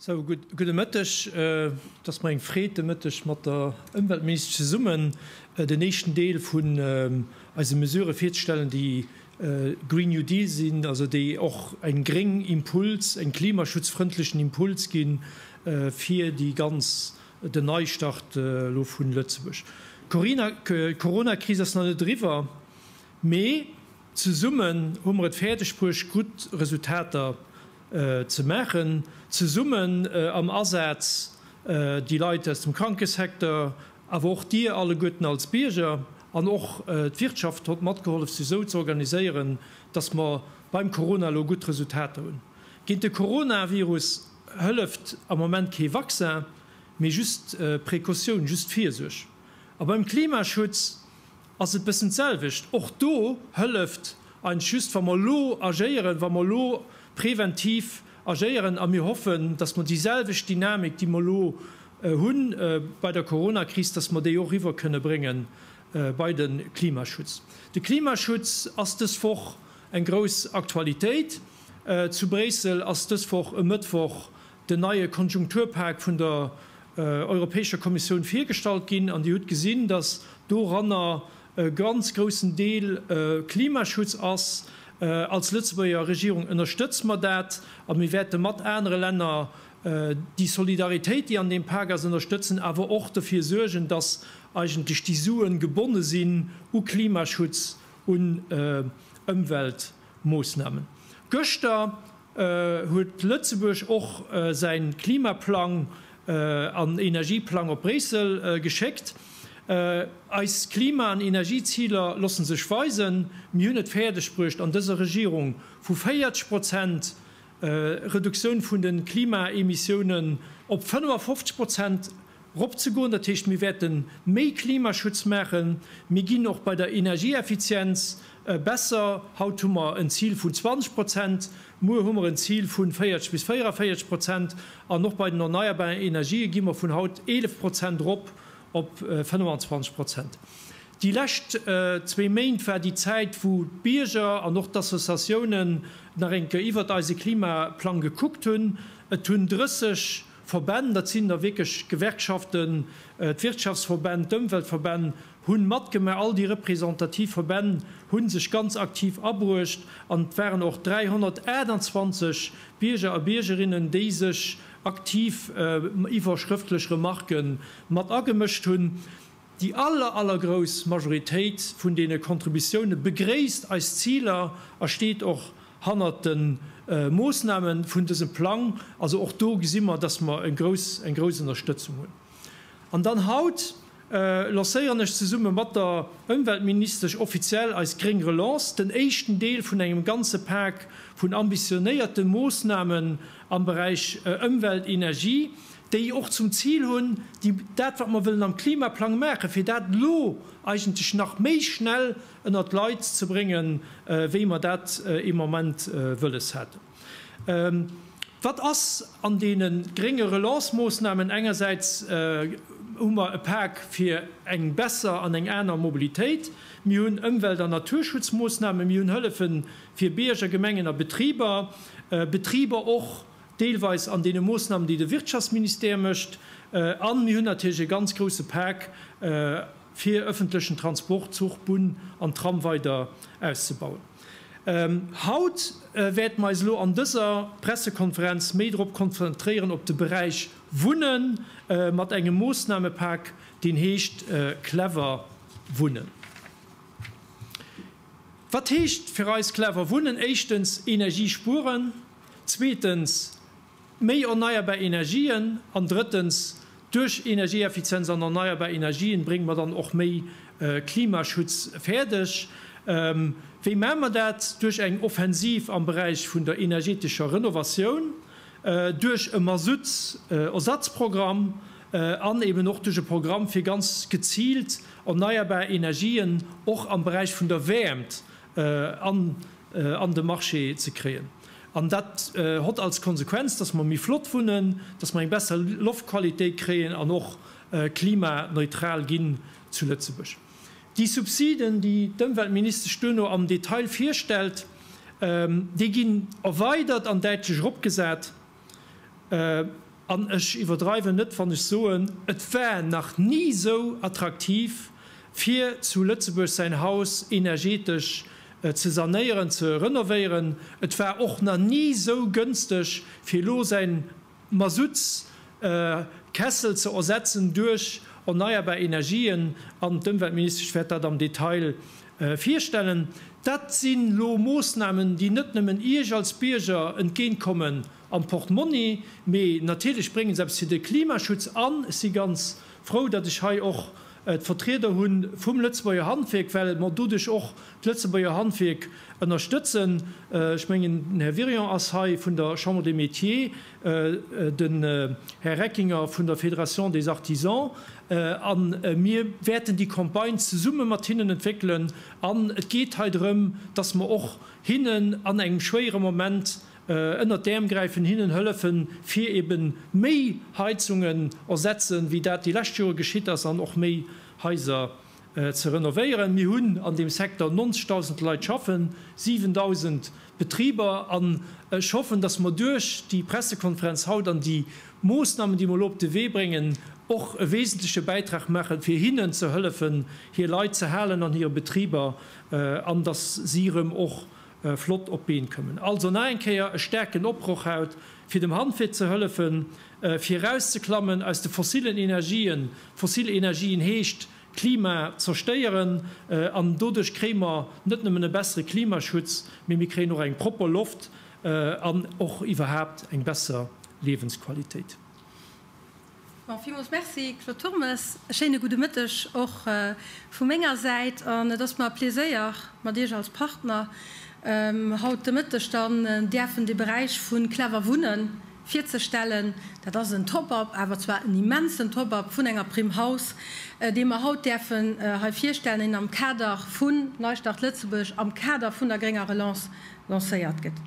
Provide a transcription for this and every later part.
Sou, gudde Mëtteg. Et ass mer eng Freed, de Mëtteg mat der Ëmweltministesch zesummen den éischten Deel vun eise Mesurë virzestellen, déi Green New Deal sinn, also déi och eng gréng Impuls, eng klimaschutzfrëndlechen Impuls gi fir déi ganz, den Neistart elo vu Lëtzebuerg. D'Corona-Kris ass nach net eriwwer, mee. Zesummen hu mer et fäerdeg bruecht, gutt Resultater ze maachen, zesummen am Asaz, déi Leit aus dem Krankesecteur, awer och Dir alleguerten als Bierger an och d'Wirtschaft hott matgehollef, se esou ze organiséieren, dass mer beim Corona elo gutt Resultater hunn. Géint de Coronavirus hëlleft am Moment kee Vaccin, mee just Precautioun, just Virsuerg. A beim Klimaschutz ass et e bëssen d'selwecht. Och do hëlleft eis just, wa mer elo agéieren, wa mer elo preventiv agéieren. A mir hoffen, dass mer déiselwecht Dynamik, déi mer elo hu bei der Coronakris, dass mer déi och eriwwer kënne brénge bei de Klimaschutz. De Klimaschutz ass dës Woch eng grouss Aktualitéit. Zu Bréissel ass dës Woch e Mëttwoch den neie Konjunkturpak vun der Europäescher Kommissioun virgestallt ginn, an Dir hutt gesinn, dass doranner e ganz groussen Deel Klimaschutz ass. Als Lëtzebuerger Regierung ënnerstëtze mer dat a mir wäerte mat anere Länner déi Solidaritéit, déi an deem Pak ass, ënnerstëtzen, awer och dofir suergen, dass eigentlech déi Suen gebonne sinn u Klimaschutz, un Ëmweltmoossnamen. Gëschter Huet Lëtzebuerg och säin Klimaplang an Energieplang op Bréissel geschéckt? Eis Klima an Energieziler lossen sech weisen. Mir hunn et fäerdeg bruecht an dëser Regierung vu 40 Prozent Reduktioun vun den Klimaemissiounen op 55 Prozent eropzegoen. Dat heescht, mir wäerte méi Klimaschutz maachen. Mir ginn och bei der Energieeffizienz besser. Haut hu mer en Zil vun 20 Prozent, muer hu mer en Zil vu 40 bis 44 Prozent. An och bei den erneierbaren Energië gi mer vun haut 11 Prozent erop op 25 Prozent. Déi lescht zwee Méint war déi Zäit, wou d'Bierger an och d'Associatiounen nach eng Kéier iwwert eise Klimaplang gekuckt hunn. Et hunn 30 Verbänn, dat sinn da wierklech d'Gewerkschaften, d'Wirtschaftsverbänn, d'Ëmweltverbänn hu matgemaach, all déi representativ Verbänn hu sech ganz aktiv abruecht an et waren och 328 Bierger a Biergerinnen, déi sech aktiv iwwer schrëftlech Remarke mat agemëscht hunn. Déi aller, allergrouss Majoritéit vun deene Contributioune begréisst eis Ziler a steet och hannert de Moossname vun dësem Plang. Also och do gesi mer, dass mer eng grouss, eng grouss Ënnerstëtzung hunn. An dann haut lancéieren ech zesumme mat der Ëmweltministesch offiziell eis gréng Relance, den éischten Deel vun engem ganze Pak vun ambitionéierte Moossnamen am Beräich Ëmwelt, Energie, déi och zum Zil hunn, déi dat, wat mer wëllen am Klimaplang maachen, fir dat elo eigentlech nach méi schnell ënnert d'Leit ze bréngen, wéi mer dat ee Moment wëlles hätten. Wat ass an deene grénge Relancemoossnamen? Engersäits hu mer e Pak fir eng besser an eng aner Mobilitéit, mir hunn Ëmwelt an Naturschutzmoossnamen, mir hunn Hëllefe fir Bierger, Gemengen a Betriber, Betriber och deelweis an deene Moosnamen, déi de Wirtschaftsministère mécht, a mir hunn natierlech e ganz grouse Pak, fir öffentlechen Transport, Zuch, Bunn an Tram weider auszubauen. Haut wäerte mer eis elo an dëser Pressekonferenz méi drop konzentréieren, op de Beräich Wunne mat engem Moosnamepak, deen heescht Clever Wunnen. Wat heescht fir eis Clever Wunnen? Éischtens Energie spueren. Zweetens, méi erneierbar Energien. An drëttens, duerch Energieeffizienz an erneierbar Energien brénge mer dann och méi Klimaschutz fäerdeg. Wéi maache mer dat? Duerch eng Offensiv am Beräich vun der energetescher Renovatioun, duerch e Masutts-Ersatzprogramm an eben och duerch e Programm, fir ganz geziilt erneierbar Energien och am Beräich vun der Wäermt an de Marché ze kréien. An dat hott als Konsequenz, dass mer méi flott wunnen, dass mer eng besser Loftqualitéit kréien an och klimaneutral ginn zu Lëtzebuerg. Déi Subsiden, déi d'Ëmweltministesch duerno am Detail virstellt, déi ginn erweidert an däitlech eropgesat. An ech iwwerdreiwen net wann ech soen, et war nach ni esou attraktiv fir zu Lëtzebuerg säin Haus energetesch ze sanéieren, ze renovéieren. Et war och nach ni esou gënsteg fir elo säin Masutts Kessel ze ersetzen duerch erneierbar Energien. An d'Ëmweltministesch wäert dat am Detail Virstellen. Dat si lo Moossnamen, déi net nëmmen Iech als Bierger entgéint kommen am Portmonni, mee natierlech brénge se eppes fir de Klimaschutz. An ech si ganz frou, datt ech hei och d'Vertrieder hu vum Lëtzebuerger Handwierk, well mer doduerch och d'Lëtzebuerger Handwierk ënnerstëtzen. Ech mengen den Här Wirion ass hei vun der Chambre des Métiers. den Här Reckinger vun der Fédération des Artisans, a mir wäerten déi Campagne zesumme mat hinnen entwéckelen. An et geet hei drëm, dass mer och hinnen an engem schwéiere Moment ënnert d'Äerm gräifen, hinnen hëllefen, fir ebe méi Heizungen ersetzen, wéi dat déi lescht Jore geschitt ass, an och méi Haiser ze renovéieren. Mir hunn an deem Secteur 90.000 Leit schaffen, 7.000 Betriber, an ech hoffen, dass mer duerch déi Pressekonferenz haut an déi Moosnamen, déi mer elo op de Wee bréngen, och e wesentleche Bäitrag maachen, fir hinnen ze hëllefen, hir Leit ze halen an hire Betriber, an dass si erëm och flott op d'Been kommen. Also nach eng Kéier e staarken Oproch haut, fir dem Handwierk ze hëllefen, fir erauszeklammen aus de fossillen Energien. Fossil Energien heescht Klima zerstéieren an doduerch kréie mer net nëmmen e bessere Klimaschutz, mee mir kréien och eng propper Loft an och iwwerhaapt eng besser Liewensqualitéit. Villmools Merci, Claude Turmes. E schéine gudde Mëtteg och vu menger Säit. An et ass mer e Pleséier, mat Iech als Partner haut de Mëtteg dann däerfen de Beräich vu Clever Wunnen virzestellen. Dat ass en Top-up, awer zwar en immensen Top-up vun enger Primm Haus, dee mer haut däerfen hei virstellen, deen am Kader vun Neistart Lëtzebuerg, am Kader vun der grénger Relance lancéiert gëtt.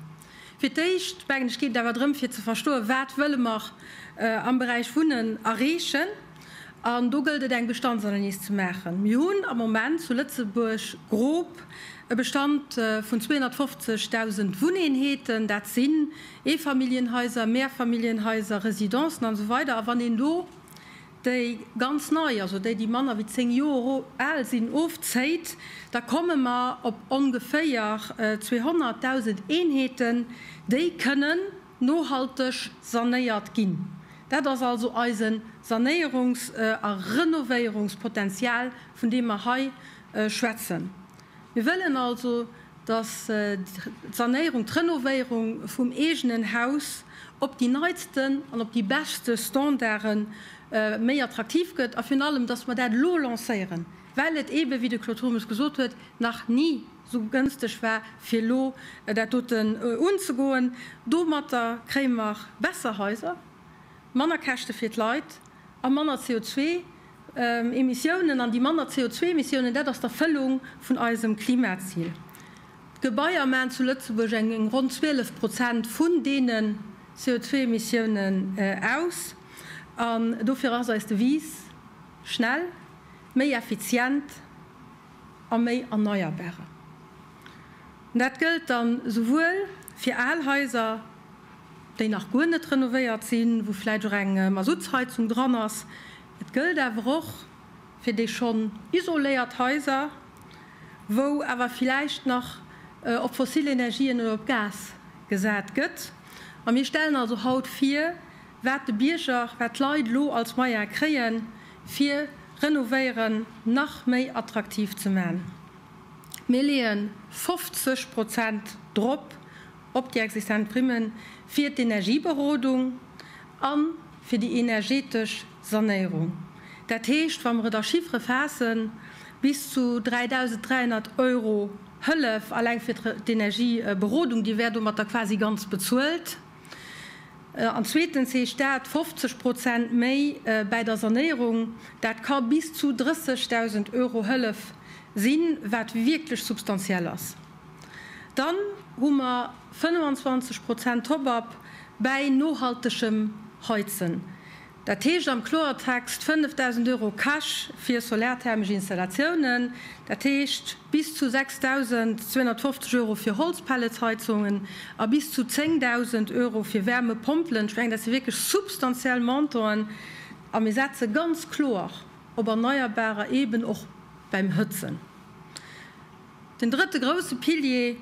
Fir d'éischt, mengen ech, geet et awer drëm, fir ze verstoen, wat wëlle mer am Beräich Wunnen erreechen. An do gëllt et, eng Bestandsanalys ze maachen. Mir hunn am Moment zu Lëtzebuerg grob e Bestand vun 250.000 Wunneenheeten. Dat sinn Eefamilljenhaiser, Mehrfamilljenhaiser, Residencen, an esou weider. A wann een do déi ganz nei, also déi, déi manner wéi 10 Joer al sinn, ofzéit, da komme mer op ongeféier 200.000 Eenheeten, déi kënnen nohalteg sanéiert ginn. Dat ass also eise Sanéierungs a Renovéierungspotenzial, vun deem mer hei schwätzen. Mir wëllen also, dass d'Sanéierung, d'Renovéierung vum eegenen Haus op déi neitsten an op déi beschte Standarde méi attraktiv gëtt a virun allem, dass mer dat elo lancéieren, well et eeben, wéi de Claude Turmes gesot huet, nach ni esou gënsteg war, fir elo dat doten unzegoen. Domatter kréie mer besser Haiser, manner Käschte fir d'Leit a manner CO2. Emissiounen an déi manner CO2-Emissiounen, dat ass d'Erfëllung vun eisem Klimazil. D'Gebaier maachen zu Lëtzebuerg eng eng ronn 12 Prozent vun deene CO2-Emissiounen aus. An dofir ass eis Devise schnell, méi effizient a méi erneierbare. Dat gëllt dann esouwuel fir al Haiser, déi nach guer net renovéiert sinn, wou vläicht och eng Masuttsheizung dran ass, et gëllt awer och fir déi schonn isoléiert Haiser, wou awer vläicht nach op fossil Energien oder op Gas gesat gëtt. A mir stellen also haut vir, wat de Bierger, wat d'Leit elo als Moyen kréien, fir Renovéieren nach méi attraktiv ze man. Mir leeën 50 Prozent drop op déi existent Primme fir d'Energieberodung a fir déi energetesch Sanéierung. Dat heescht, wa mer et a Chiffere faassen, bis zu 3.300 Euro Hëllef alleng fir d'Energieberodung, déi wär domat da quasi ganz bezuelt. An zweetens heescht dat 50 Prozent méi bäi der Sanéierung. Dat ka bis zu 30.000 Euro Hëllef sinn, wat wierklech substantiell ass. Dann hu mer 25 Prozent Top-up bäi nohaltegem Heizen. Dat heescht am Kloertext 5.000 Euro Cash fir solarthermesch Installatiounen, dat heescht bis zu 6.250 Euro fir Holzpelletsheizungen a bis zu 10.000 Euro fir Wärmepompelen. Ech mengen, dat si wierklech substantiell Montoen a mir setze ganz kloer op Erneierbarer, eeben och beim Hëtzen. Den drëtte grouse Pilier,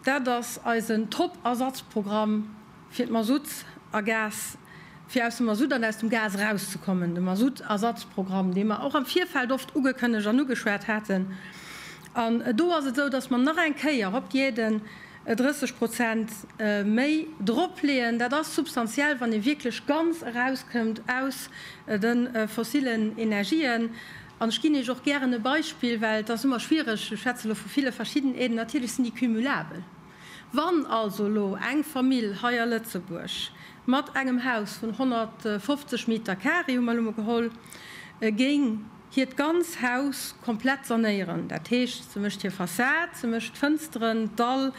dat ass eisen Top-Ersatzprogramm fir d'Masutt a Gas, fir aus dem Masutt an aus dem Gas erauszekommen, de Masutt-Ersatzprogramm, dee mer och am Virfeld oft ugekënnegt an ugeschwat haten. An do ass et esou, dass mer nach eng Kéier op d'Dieden 30 Prozent méi dropleeën. Dat ass substantiell, wann ee wierklech ganz erauskënnt aus de fossillen Energien. An ech ginn Iech och gären e Beispill, well et ass ëmmer schwiereg, ech schwätze elo vu ville verschiddenheeten, natierlech sinn déi cumulabel. Wann also elo eng Famill hei a Lëtzebuerg mat engem Haus vun 150 Meter Carré, hu mer elo mol geholl, géing hiert ganz Haus komplett sanéieren, dat heescht, se mécht hir Fassad, se mécht d'Fënsteren, d'Dall,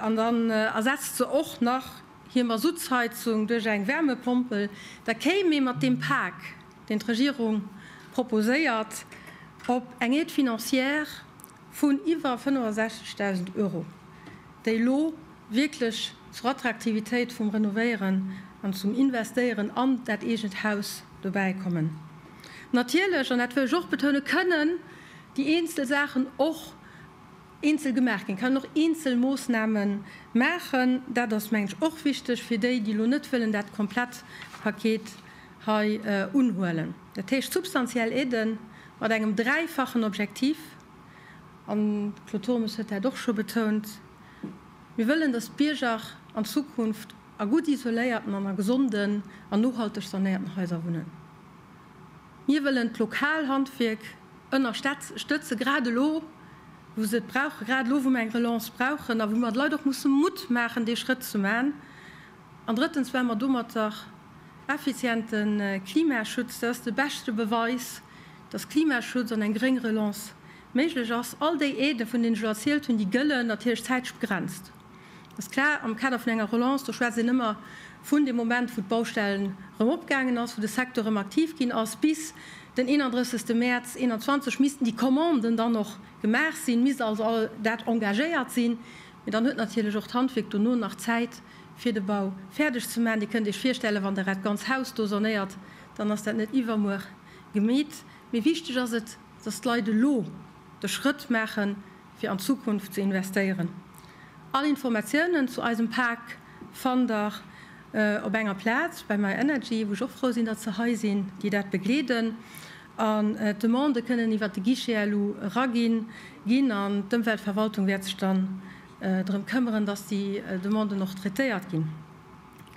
an dann ersetzt se och nach hir Masuttsheizung duerch eng Wärmepompel, da kéim ee mat deem Pak, deen d'Regierung proposéiert, op eng Aide financière vun iwwer 65.000 Euro, déi elo wierklech zur Attraktivitéit vum Renovéieren an zum Investéieren an dat eegent Haus dobäi kommen. Natierlech, an dat wëll ech och betounen, kënnen déi eenzel Saachen och eenzel gemaach ginn, kann een och eenzel Moossname maachen. Dat ass, mengen ech, och wichteg fir déi, déi elo net wëllen dat komplett Paket hei unhuelen. Dat heescht substantiell Aiden mat engem dräifachen Objektiv. An d'Claude Turmes huet dat och scho betount, Mir wëllen, dass d'Bierger an Zukunft a gutt isoléierten an a gesonden an nohalteg sanéierten Haiser wunnen. Mir wëllen d'lokal Handwierk ënnerstëtze, grad elo wou se et brauchen, grad elo wou mer eng Relance brauchen a wou mer de Leit och musse Mutt maachen, dee Schrëtt ze man. An drëttens, well mer domatter Effiziente Klimaschutz, dat ass de beschte Beweis, datt Klimaschutz an eng gréng Relance méiglech ass. All déi Aidë vun deenen ech elo erzielt hunn, déi gëllen natierlech zäiteg begrenzt. Dat ass klar, am Kader vun enger Relance, do schwätzt een ëmmer vun deem Moment, wou d'Baustell erëm opgaangen ass, wou de Secteur erëm aktiv ginn ass, bis den 31. Mäerz 2021 missten déi Commanden dann och gemaach sinn, misst also all dat engagéiert sinn. Mee dann huet natierlech och d'Handwierk dono nach Zäit, fir de Bau fäerdeg ze maachen. Dir kënnt Iech virstellen, wann Der dat ganz Haus do sanéiert, dann ass dat net iwwermuer gemeet. Mee wichteg ass et, dass d'Leit elo de Schrëtt maachen, fir an d'Zukunft ze investéieren. All Informatiounen zu eisem Pak fannt Der op enger Plaz, bei myenergy, wou ech och frou sinn, datt se hei sinn, déi dat begleeden. An d'Demandë kënnen iwwert de Guichet elo eraginn ginn an d'Ëmweltverwaltung wäert sech dann drëm këmmeren, dass déi Demanden och traitéiert ginn.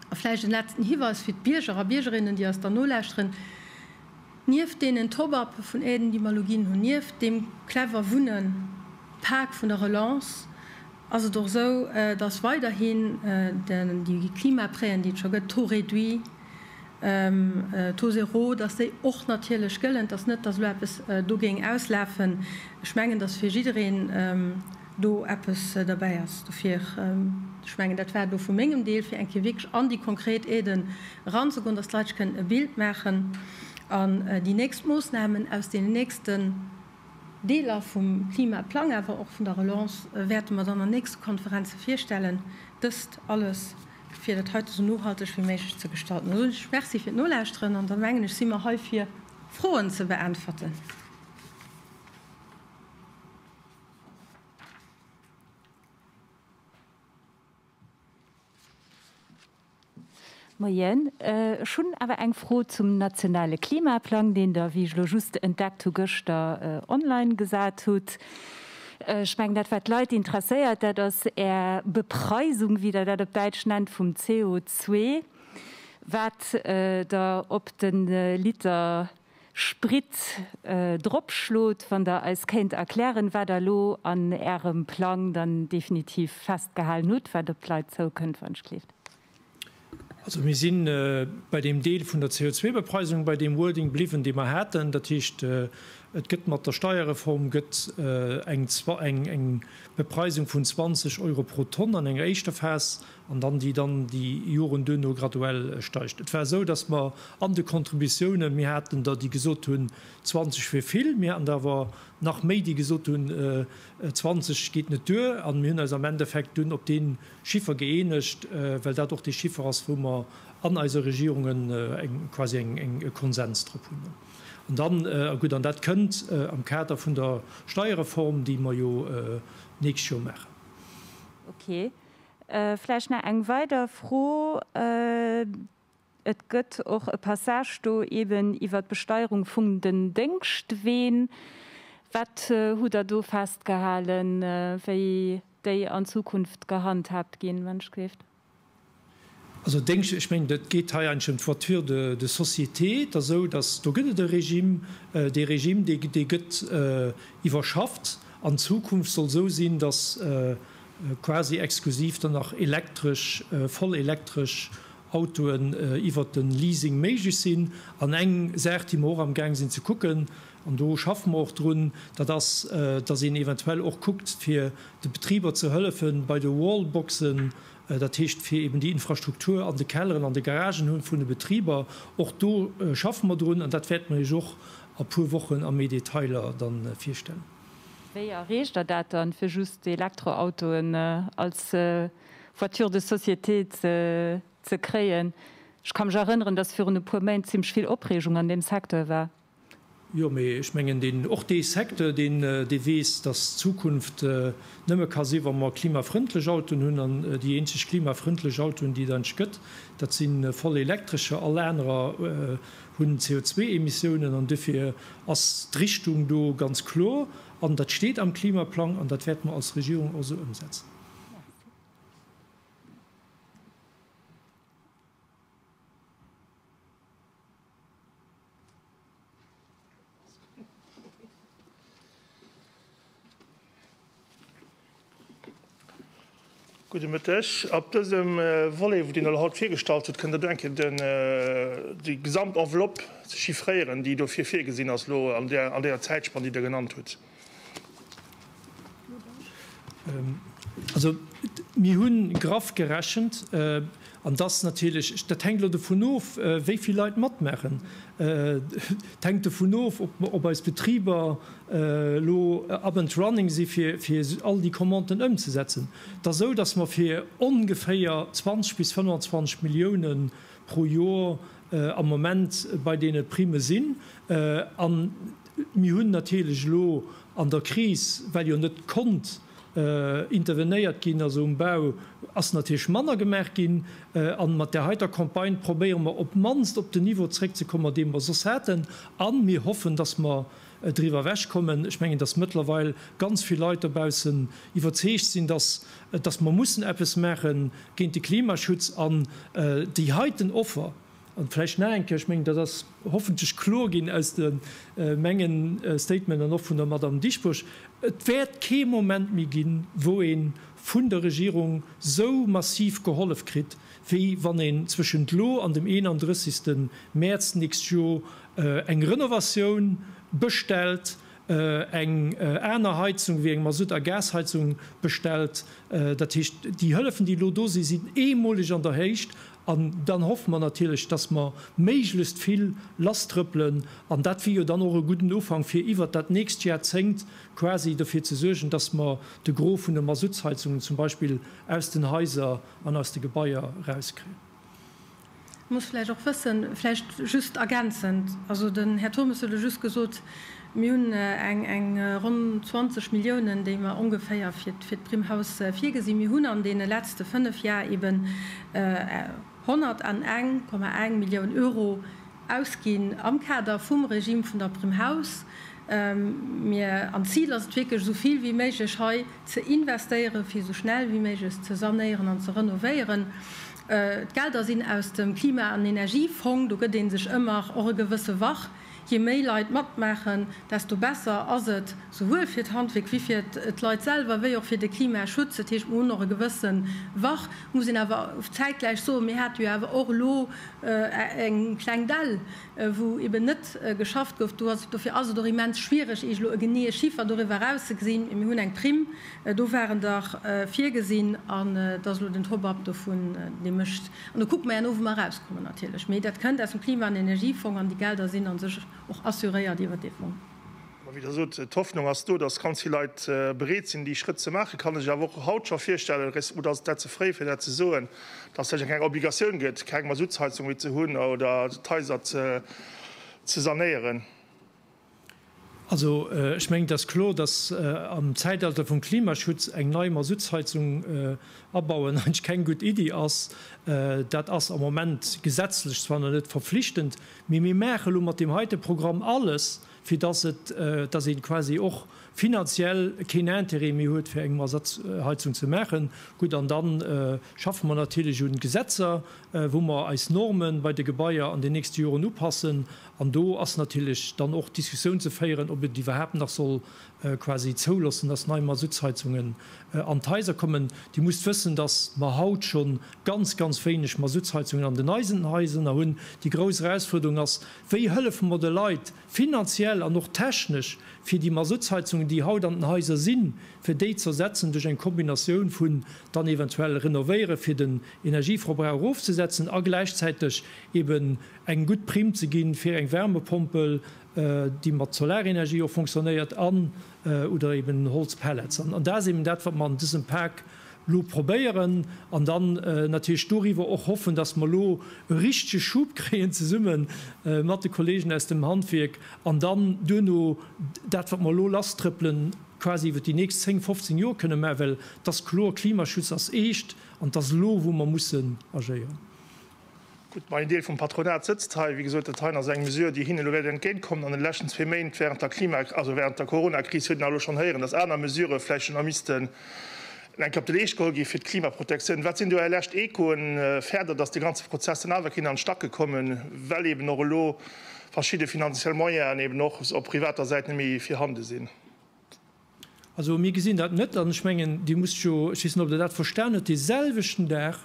A vläicht en letzten Hiweis fir d'Bierger a Biergerinnen, déi eis dann nolauschteren, Nieft deenen Top-up vun Aiden, déi mer elo ginn hunn, nieft deem clever Wunnen Pak vun der Relance, ass et och esou, dass weiderhin déi Klimaprêten, déi et scho gëtt, Taux réduit, Taux zéro, dass déi och natierlech gëllen, dass net, dass elo eppes do géing auslafen. Ech mengen, dass fir jiddereen do eppes derbäi ass. Dofir, ech mengen, dat war et elo vu mengem Deel, fir eng Kéier wierklech an déi konkret Aiden eranzegoen, dass d'Leit sech kënnen e Bild maachen an déi nächst Moosnamen aus deenen nächsten Deeler vum Klimaplang, awer och vun der Relance, wäerte mer dann an nächste Konferenze virstellen. Dëst alles, fir dat heite esou nohalteg wéi méiglech ze gestalten. Da soen ech Merci fir d'Nolauschteren an da mengen ech, si mer hei fir Froen ze beäntwerten. Moien, ech hunn awer eng Fro zum nationale Klimaplang, deen Der, wéi ech elo just entdeckt hu, gëschter online gesat hutt. Ech mengen, dat wat d'Leit interesséiert, dat ass Är Bepreisung, wéi Der dat op Däitsch nennt, vum CO2, wat Der op de Liter Sprit drop schlot, wann Der eis kéint erklären, wat Der elo an Ärem Plang dann definitiv festgehalen hutt, wat op d'Leit zoukënnt, wann ech gleeft. Also mir si bei deem Deel vun der CO2-Bepreisung bei deem Wording bliwwen, dee mer haten. Dat heescht, et gëtt mat der Steierreform gëtt eng Bepreisung vun 20 Euro pro Tonn an enger éischter Phas an dann déi dann déi Joren duerno graduell steigt. Et war esou, dass mer an de Kontributiounen, mir haten der, déi gesot hunn, 20 wier vill, mir haten der awer nach méi, déi gesot hunn, 20 geet net duer. A mir hunn eis am Endeffekt dunn op dee Chiffer gëeenegt, well dat och dee Chiffer ass, wou mer an eise Regierungen eng, quasi eng, eng, e Konsens drop hunn. An dann, a gutt, an dat kënnt am Kader vun der Steierreform, déi mer jo d'nächst Joer maachen. Okay. Vläicht nach eng weider Fro, Et gëtt och e Passage do eeben iwwert d'Besteierung vum den Déngschtween. Wat hutt Der do festgehalen, wéi déi an Zukunft gehandhaabt ginn? Also Déngscht, ech mengen, et geet hei eigentlech ëm d'Voiture de de société. Et ass esou, datt do gëtt et e Regime. Dee Regime, dee dee gëtt iwwerschafft. An Zukunft soll esou sinn, datt quasi exklusiv dann nach elektresch, voll elektresch Autoen iwwert de Leasing méiglech sinn. An eng Saach, déi mer och amgaang sinn ze kucken, an do schaffe mer och drun, dat ass, datt een eventuell och kuckt, fir de Betriber ze hëllefe bei de Wallboxen, Dat heescht, fir eben déi Infrastruktur an de Kelleren, an de Garagen vun de Betriber, och do schaffe mer drun an dat wäerte mer Iech och a puer Wochen a méi Detailer da virstellen. Wéi erreecht Der dat dann, fir just d'Elektroautoen als Voiture de société ze kréien? Ech ka mech erënneren, dass virun e puer Méint zimmlech vill Opreegung an deem Secteur war. Jo, mee ech mengen, deen, och dee Secteur, deen, dee weess, dass d'Zukunft nëmme ka sinn, wa mer klimafrëndlech Autoen hunn. An déi eenzeg klimafrëndlech Autoen, déi et eigentlech gëtt, dat si voll elektrescher. All anerer hunn CO2-Emissiounen. An dofir ass d'Richtung do ganz kloer. An dat steet am Klimaplang. An dat wäerte mer als Regierung och esou ëmsetzen. Merci. Gudde Mëtteg. Op dësem Volet, deen der haut virgestallt huet, kënnt der do eng Kéier den, déi gesamt Enveloppe chiffréieren, déi dofir virgesinn ass elo an där, an där Zäitspann, déi Der genannt hutt. Also, mir hu graff gerechent, an dass natierlech, dat hänkt elo dovun of, wéi vill Leit matmaachen. Et hänkt dovun of, ob eis Betriber elo up and running si fir all déi Commanden ëmzesetzen. Et ass esou, dass mer fir ongeféier 20 bis 25 Millioune pro Jor am Moment bei deene Primme sinn. Mir hunn natierlech elo an der Kris, well jo net konnt intervenéiert ginn, also um Bau ass natierlech manner gemaach ginn, a mat där heiter Campagne probéiere mer op d'mannst op den Niveau zréckzekommen, dee mer soss haten, a mir hoffen, dass mer driwwer ewechkommen. Ech mengen, dass mëttlerweil ganz vill Leit dobaussen iwwerzeegt sinn, dass mer mussen eppes maache géint de Klimaschutz an déi heiten Offer, An vläicht nach eng Kéier, ech mengen, dat ass hoffentlech kloer ginn aus de menge Statement an och vun der Madamm Dieschbourg, Et wäert kee Moment méi ginn, wou ee vun der Regierung esou massiv gehollef kritt, wéi wann een zwëschent elo an dem 31. Mäerz d'nächst Joer eng Renovatioun bestellt, eng aner Heizung wéi eng Masutt a Gasheizung bestellt. Dat heescht, déi Hëllefen, déi elo do sinn, sinn eemoleg an der Héicht An dann hoffe mer natierlech, dass mer méiglechst vill lasstrëppelen. An dat wier jo dann och e gudden Ufank, fir iwwert dat nächst Jahrzéngt quasi derfir ze suergen, dass mer de Gros vun de Masuttsheizungen zum Beispill aus den Haiser an aus de Gebaier erauskriegen. Muss vläicht och wëssen, vläicht just ergänzend, also den Här Turmes huet elo just gesot, Mir hunn eng ronn 20 Milliounen, déi mer ongeféier fir d'Prime Haus virgesinn. Mir hunn an deene letzte fënnf Jar eben 101,1 Millioun Euro ausginn am Kader vum Regime vun der Prime Haus. Mir an d'Zil ass et wierklech, esou vill wéi méiglech hei ze investéieren, fir esou schnell wéi méiglech ze sanéieren an ze renovéieren. D'Gelder sinn aus dem Klima an Energiefong. Do gëtt ee sech ëmmer och e gewësse Wach. Je méi Leit matmaachen, desto besser ass et, souwuel fir d'Handwierk wéi fir d'Leit selwer, wéi och fir de Klimaschutz. Dat heescht, mir hunn och e gewësse Wach. Et muss een awer zäitgläich soen, mir hate jo awer och elo eng kleng Dell, wou eeben net geschafft gouf. Dofir ass et och immens schwiereg, Iech elo e geneeë Chiffer doriwwer erauszegesinn. Mee mir hunn eng Primm, do waren der, virgesinn. An et ass elo den Top-up dovun, dee mécht An da kucke mer jo no, wou mer erauskommen natierlech. Mee dat kënnt aus dem Klima an Energiefong an déi Gelder sinn a sech och assuréiert iwwert dee Fong. Mä wéi Der sot, d'Hoffnung ass do, datt ganz vill Leit bereet sinn, déi Schrëtt ze maachen. Kann Der sech awer och haut scho virstellen, oder ass et dat ze fréi fir dat ze soen, datt et vläicht eng kleng Obligatioun gëtt, keng Masuttsheizung méi ze hunn oder d'Haiser ze sanéieren? Also, ech mengen, et ass kloer, dass am Zäitalter vum Klimaschutz eng nei Masuttsheizung abauen eigentlech keng gutt Iddi ass. Dat ass am Moment gesetzlech zwar nach net verflichtend, mee mir maachen elo mat deem heite Programm alles, fir dass et, dass ee quasi och finanziell keen Interêt méi huet, fir eng Masuttsheizung ze maachen. Gutt, an da schaffe mer natierlech un Gesetzer, wou mer eis Norme bei de Gebaier an den nächste Joren upassen An do ass natierlech dann och d'Diskussioun ze féieren, ob et iwwerhaapt nach soll quasi zouloossen, dass nei Masuttsheizungen an d'Haiser kommen. Dir musst wëssen, dass mer haut scho ganz, ganz wéineg Masuttsheizungen an den eisen Haiser hunn. Déi grouss Erausfuerderung ass, Wéi hëllefe mer de Leit finanziell an och technesch, fir déi Masuttsheizungen, déi haut an den Haiser sinn, fir déi ze ersetzen duerch eng Kombinatioun vun dann eventuell renovéieren, fir den Energieverbrauch erofzesetzen a gläichzäiteg eeben, eng gutt Primm ze ginn, fir eng Wärmepompel, déi mat Solarenergie och funktionéiert, an, oder eben Holzpellets. An dat ass eben dat, wat mer an dësem Pak elo probéieren. An dann natierlech doriwwer och hoffen, dass mer elo e richtege Schub kréien, zesumme mat de Kollegen aus dem Handwierk, an dann duerno dat, wat mer elo lasstrëppelen, quasi iwwert déi nächst zéng, fofzéng Joer kënnen maachen, well et ass kloer, Klimaschutz ass éischt, an et ass elo, wou mer mussen agéieren. Gutt, mä een Deel vum Patronat sëtzt hei. Wéi gesot, dat heien ass eng Mesure, déi hinne elo wäert entgéintkommen. An de leschten zwee Méint während der Klima, also während der Coronakris huet een elo schonn héieren, dass aner Mesurë vläicht schonn nach missten eng Kéier op de Leescht geholl gi fir d'Klimaprotektioun. Wat sinn do Är lescht Echoen färder, dass de ganze Prozess dann awer kéint an d'Stacke kommen, well eeben och elo verschidde finanziell Moyenen eeben och op privater Säit net méi virhande sinn? Also, mir gesinn dat net. An ech mengen, Dir musst jo, ech weess net, ob Der dat verstan hutt, dee selwechten Dag,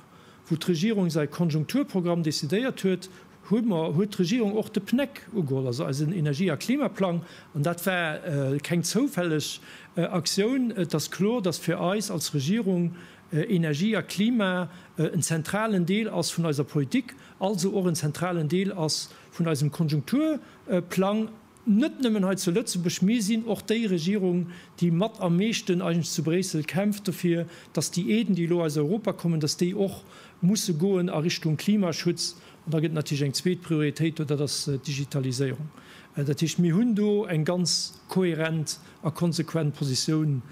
wou d'Regierung säi Konjunkturprogramm decidéiert huet, hu mer, huet d'Regierung och de PNEC ugeholl, also eisen Energie a Klimaplang. An dat war keng zoufälleg Aktioun. Et ass kloer, dass fir eis als Regierung Energie a Klima en zentralen Deel ass vun eiser Politik, also och en zentralen Deel ass vun eisem Konjunkturplang. net nëmmen hei zu Lëtzebuerg, mir sinn och déi Regierung, déi mat am meeschten eigentlech zu Bréissel kämpft dofir, dass déi Aiden, déi elo aus Europa kommen, dass déi och musse goen a Richtung Klimaschutz. An da gëtt et natierlech eng zweet Prioritéit do, dat ass d'Digitaliséierung. Dat heescht, mir hunn do eng ganz kohärent a konsequent Positioun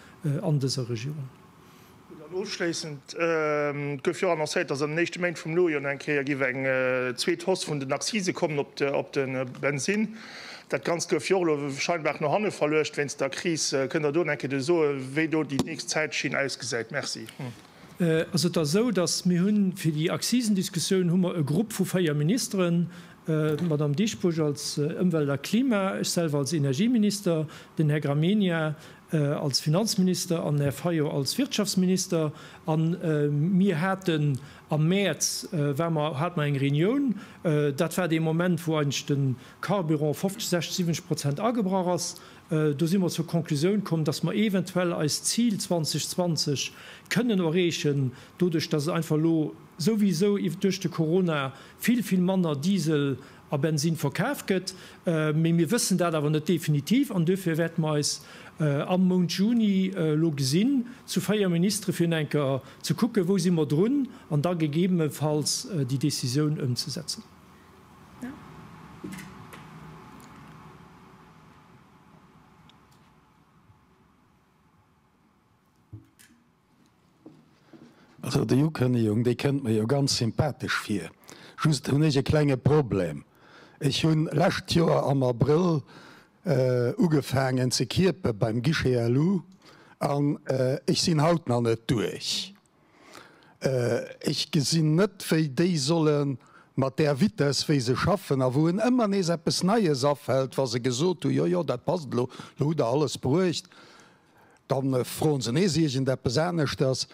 an dëser Regierung. Dann ofschléissend gouf jo annoncéiert, dass an den éischte Méint vum Nojor nach eng Kéier géif eng zweet Hausse vun den Accise kommen op de Bensinn. Dat Ganzt gouf jo och elo scheinbar no hanne verluecht wéinst der Kris. Kënnt Der do nach eng Kéier soen, wéi do déi nächst Zäitschinn ausgesäit? Merci. Ass et da esou, dass mir hunn, fir déi Accisen-Diskussioun hu mer e Grupp vu véier Ministeren, d'Madame Dieschbourg als Ëmwelt a Klima, ech selwer als Energieminister, den Här Gramegna als Finanzminister an Här Fayot als Wirtschaftsminister, a mir haten am Mäerz war mer hat mer eng Reunioun. Dat war dee Moment, wou eigentlech de Carburant 50, 60, 70 Prozent agebrach ass. Do si mer zur Konklusioun komm, dass mer eventuell eist Zil 2020 kënnen erreechen, doduerch dass et einfach elo souwisou duerch de Corona vill, vill manner Diesel a Bensinn verkaf gëtt, mee mir wëssen dat awer net definitiv an duerfir wäerte mer eis am Mount Juni elo gesinn zu véier Ministere fir eng Kéier ze kucken, wou si mer drun an da gegebenefalls déi Décisioun ëmzesetzen. Also déi Ukënnegung, déi kënnt mer jo ganz sympathesch vir. Just hunn ech e klenge Problem, Ech hunn lescht Joer am Abrëll ugefaangen ze kierpe beim Guichet à Lou an ech sinn haut nach net duerch. Ech gesinn net, wéi déi solle mat där Vitess, wéi se schaffen a wou en ëmmer nees eppes Neies afält, wa se gesot hu, jo jo, dat passt elo, elo hutt Der alles bruecht, Da froen se nees iergendeppes aneschters.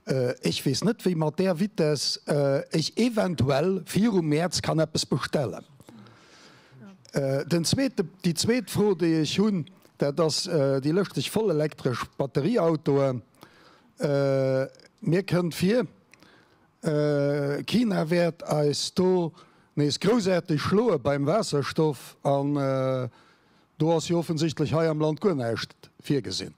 Ech weess net, wéi mat där Vitess ech eventuell viru Mäerz kann eppes bestellen. Den zweete, déi zweet Fro, déi ech hunn, dat ass déi lëschteg vollelektresch Batterieautoen. Mir kënnt vir, China wäert eis do nees groussaarteg schloe beim Waasserstoff. Do ass jo offensichtlech hei am Land guer näischt virgesinn.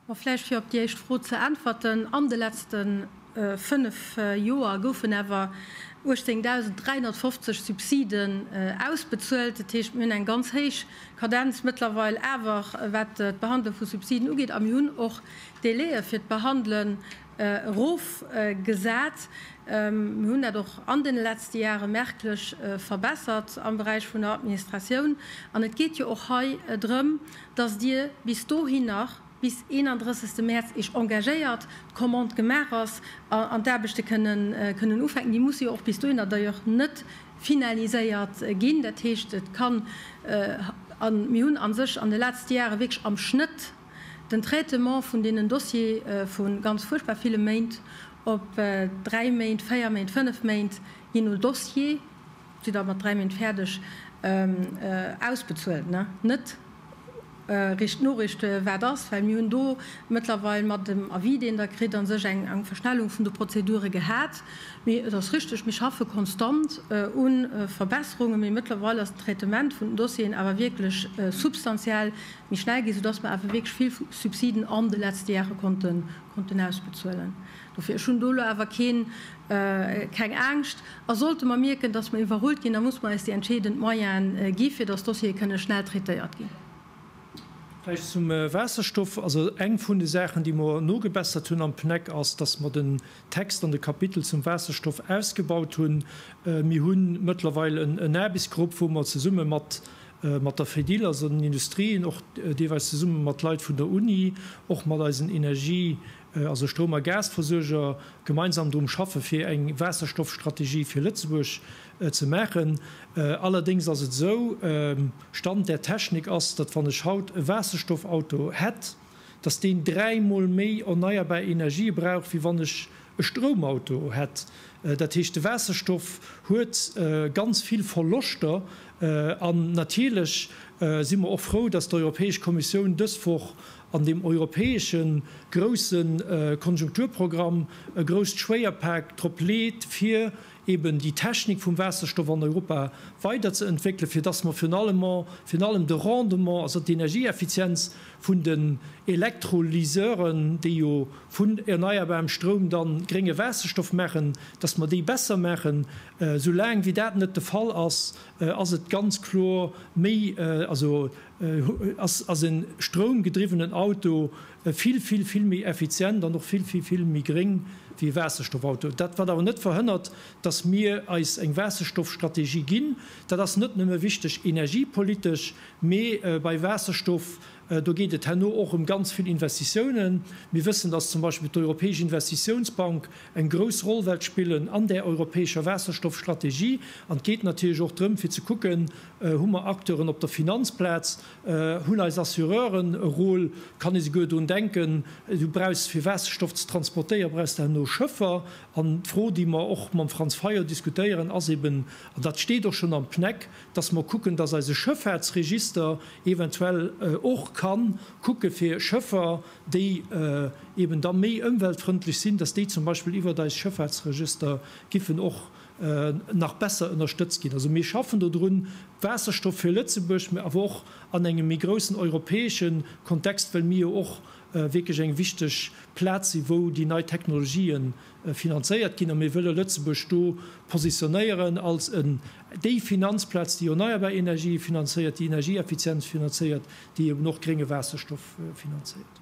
A vläicht fir op déi éischt Fro ze äntwerten, An de letzte fënnf Joer goufen awer 18.350 Subsiden ausbezuelt. Dat heescht, mir hunn eng ganz héich Kadenz mëttlerweil awer, wat d'Behandlung vu Subsiden ugeet. A mir hunn och d'Délaië fir d'Behandle erof gesat. Mir hunn dat och an deene letzte Jahre merklech verbessert am Beräich vun der Administratioun. An et geet jo och hei drëm, dass Dir bis dohin nach, bis 31. März, Iech engagéiert, d'Commande gemaach ass an d'Aarbechte kënnen ufänken. Déi musse jo och bis dohinner d'ailleurs net finaliséiert ginn. Dat heescht, et kann, a mir hunn a sech an de letzte Jahre wierklech am Schnëtt den Traitement vun deenen Dossiere vu ganz fuerchtbar ville Méint op dräi Méint, véier Méint, fënnef Méint, je no Dossier, si da mat dräi Méint fäerdeg, ausbezuelt. Net richt Noriicht, wat ass, well mir hunn do mëttlerweil mat dem Avis, deen Der kritt, a sech eng Verschnellung vun de Prozedure gehat. Mee et ass richteg, mir schaffe konstant u Verbesserunge, mee mëttlerweil ass den Traitement vun den Dossieren awer wierklech substantiell méi schnell ginn, soudass mer awer wierklech vill Subsiden an de letzte Jahre konnten ausbezuelen. Dofir, ech hunn do elo awer keng Angscht. A sollte mer mierken, dass mer iwwerrullt ginn, da musse mer eis déi entscheedend Moyene gi fir dass d'Dossiere kënne schnell traitéiert ginn. Vläicht zum Waasserstoff, also eng vun de Saachen, déi mer nogebessert hunn am PNEC, ass, dass mer den Text an de Kapitel zum Waasserstoff ausgebaut hunn. Mir hu mëttlerweil en Aarbechtsgrupp, wou mer zesumme mat Mat der Fedil, also den Industrien, och deelweis zesumme mat Leit vun der Uni, och mat eisen Energie-, also Stroum a Gasversuerger, gemeinsam drun schaffe fir eng Waasserstoffstrategie fir Lëtzebuerg ze maachen. Allerdéngs ass et esou, Stand der Technik ass, datt wann ech haut e Waasserstoffauto hätt, dass deen dräi Mol méi erneierbar Energië brauch, wéi wann ech e Stroumauto hätt. Dat heescht, de Waasserstoff huet ganz vill Verloschter. An natierlech si mer och frou, dass d'Europäesch Kommissioun dës Woch an deem europäesche grousse Konjunkturprogramm e grousst Schwéierpak drop leet, fir eben déi Technik vum Waasserstoff an Europa weider ze entwéckelen, fir dass mer virun allem virun allem de Rendement, also d'Energieeffizienz vun den Elektrolyseuren, déi jo vun erneierbarem Stroum dann grénge Waasserstoff maachen, dass mer déi besser maachen. Soulaang wéi dat net de Fall ass, ass et ganz kloer méi, also ass en stroumgedriwwenen Auto vill, vill, vill méi effizient an och vill, vill, vill méi gréng wéi e Waasserstoffauto. Dat wat awer net verhënnert, datt mir eis eng Waasserstoffstrategie ginn. Dat ass net nëmme wichteg energiepolitesch, mee bei Waasserstoff, do geet et herno och ëm ganz vill Investitiounen. Mir wëssen, datt zum Beispill d'Europäesch Investitiounsbank eng grouss Roll wält spillen an där europäescher Waasserstoffstrategie. An et geet natierlech och drëm fir ze kucken, Hu mer Acteuren op der Finanzplaz? Hunn eis Assureuren e Rôle? Kann ee souguer drun denken, du brauchs, fir Waasserstoff ze transportéieren, brauchs de herno Schëffer? An d'Fro, déi mer och mam Franz Fayot diskutéieren, ass eeben, an dat steet och schonn am PNEC, dass mer kucken, dass eise Schëffaartsregister eventuell och ka kucke fir Schëffer, déi eeben da méi ëmweltfrëndlech sinn, dass déi zum Beispill iwwert eis Schëffaartsregister giffen och nach besser ënnerstëtzt ginn. Also mir schaffen do drun, Waasserstoff fir Lëtzebuerg, mä awer och an engem méi groussen europäesche Kontext, well mir jo och wierklech eng wichteg Plaz si wou déi nei Technologië finanzéiert ginn. A mir wëlle Lëtzebuerg do positionéieren als déi Finanzplaz, déi erneierbar Energië finanzéiert, déi Energieeffizienz finanzéiert, déi eben och grénge Waasserstoff finanzéiert.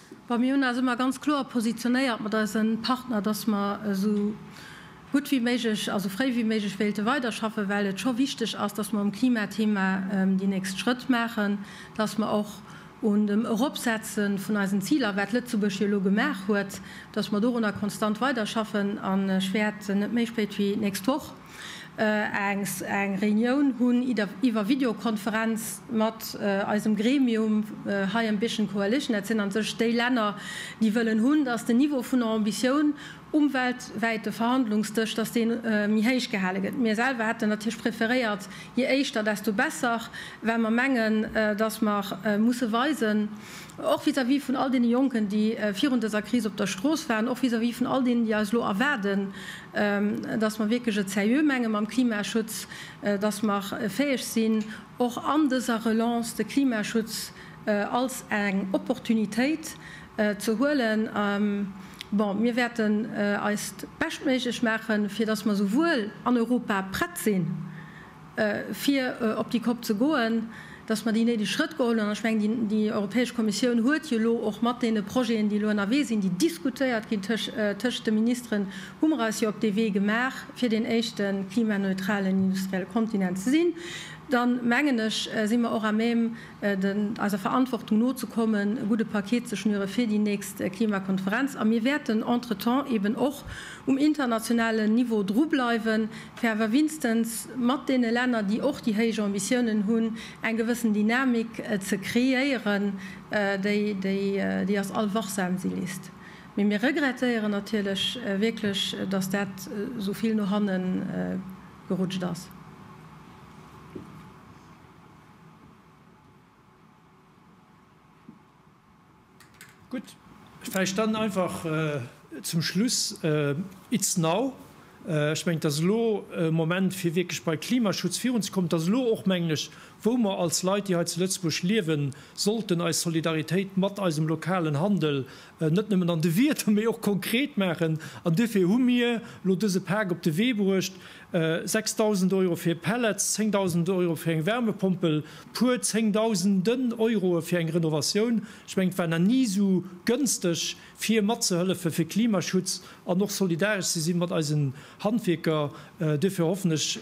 Well mir hunn eis ëmmer ganz kloer positionéiert mat eise Partner, dass mer esou gutt wéi méiglech a sou fréi wéi méiglech wéilte weiderschaffen, well et scho wichteg ass, dass mer um Klimathema déi nächst Schrëtt maachen, dass mer och un dem Eropsetze vun eisen Ziler, wat Lëtzebuerg jo elo gemaach huet, dass mer dorunner konstant weiderschaffen. An ech wäert net méi spéit wéi nächst Woch, Engs eng Reunioun hunn iwwer Videokonferenz mat eisem Gremium hei am Biergchen Coalition. Dat sinn an sech déi Länner, déi wëllen hunn, datt den Niveau vun Ambitioun um weltwäite Verhandlungsdësch, datt dee méi héich gehale gëtt. Mir selwer hätten natierlech preferéiert, je éischter, desto besser, well mer mengen, datt mer musse weisen, och vis-à-vis vun all deene Jonken, déi virun dëser Kris op der Strooss waren, och vis-à-vis vun all deenen, déi eis elo erwaarden, dass mer wierklech et seriö menge mam Klimaschutz, dass mer fäeg sinn, och an dëser Relance de Klimaschutz als eng Opportunitéit ze huelen. Bon, mir wäerten eist Beschtméiglech maachen, fir dass mer souwuel an Europa prett sinn, fir op déi Kopp ze goen, datt mer déi néideg Schrëtt geholl hunn. An ech mengen, déi Europäesch Kommissioun huet jo elo och mat deene Projeten, déi elo ënnerwee sinn, déi diskutéiert ginn tëscht de Ministeren, hu mer eis jo op dee Wee gemaach, fir deen éischte klimaneutralen industrielle Kontinent ze sinn. Da mengen ech, si mer och à même, eiser Verantwortung nozekommen, e gudde Paket ze schnüre fir déi nächst Klimakonferenz. A mir wäerten entretemps eeben och um internationalen Niveau drubleiwen, fir awer winstens mat deene Länner, déi och déi héich Ambitiounen hunn, eng gewëssen Dynamik ze kreéieren, déi ass all wachsam, si liest. Mee mir regrettéieren natierlech wierklech, datt dat esou vill no hanne gerutscht ass. Gutt, vläicht dann einfach zum Schluss It's now. Ech mengen, et ass elo e Moment, fir wierklech bei Klimaschutz virunzekommen. Et ass elo och, mengen ech, wou mer als Leit, déi hei zu Lëtzebuerg liewen, sollten eis Solidaritéit mat eisem lokalen Handel net nëmmen an de Wierder, mee och konkret maachen. An duerfir hu mir elo dëse Pak op de Wee bruecht. 6000 Euro fir Pellets, 10.000 Euro fir eng Wärmepompel, puer Zéngdausenden Euroe fir eng Renovatioun. Ech mengen, et war nach ni esou gënsteg, fir matzehëllefen, fir Klimaschutz an och solidaresch ze si mat eisen Handwierker. Duerfir hoffen ech,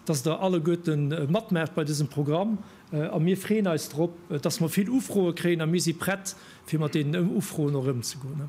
dass Der alleguerte matmaacht bei dësem Programm. A mir freeën eis drop, dass mer vill Ufroe kréien a mir si prett, fir mat deenen Ufroen och ëmzegoen.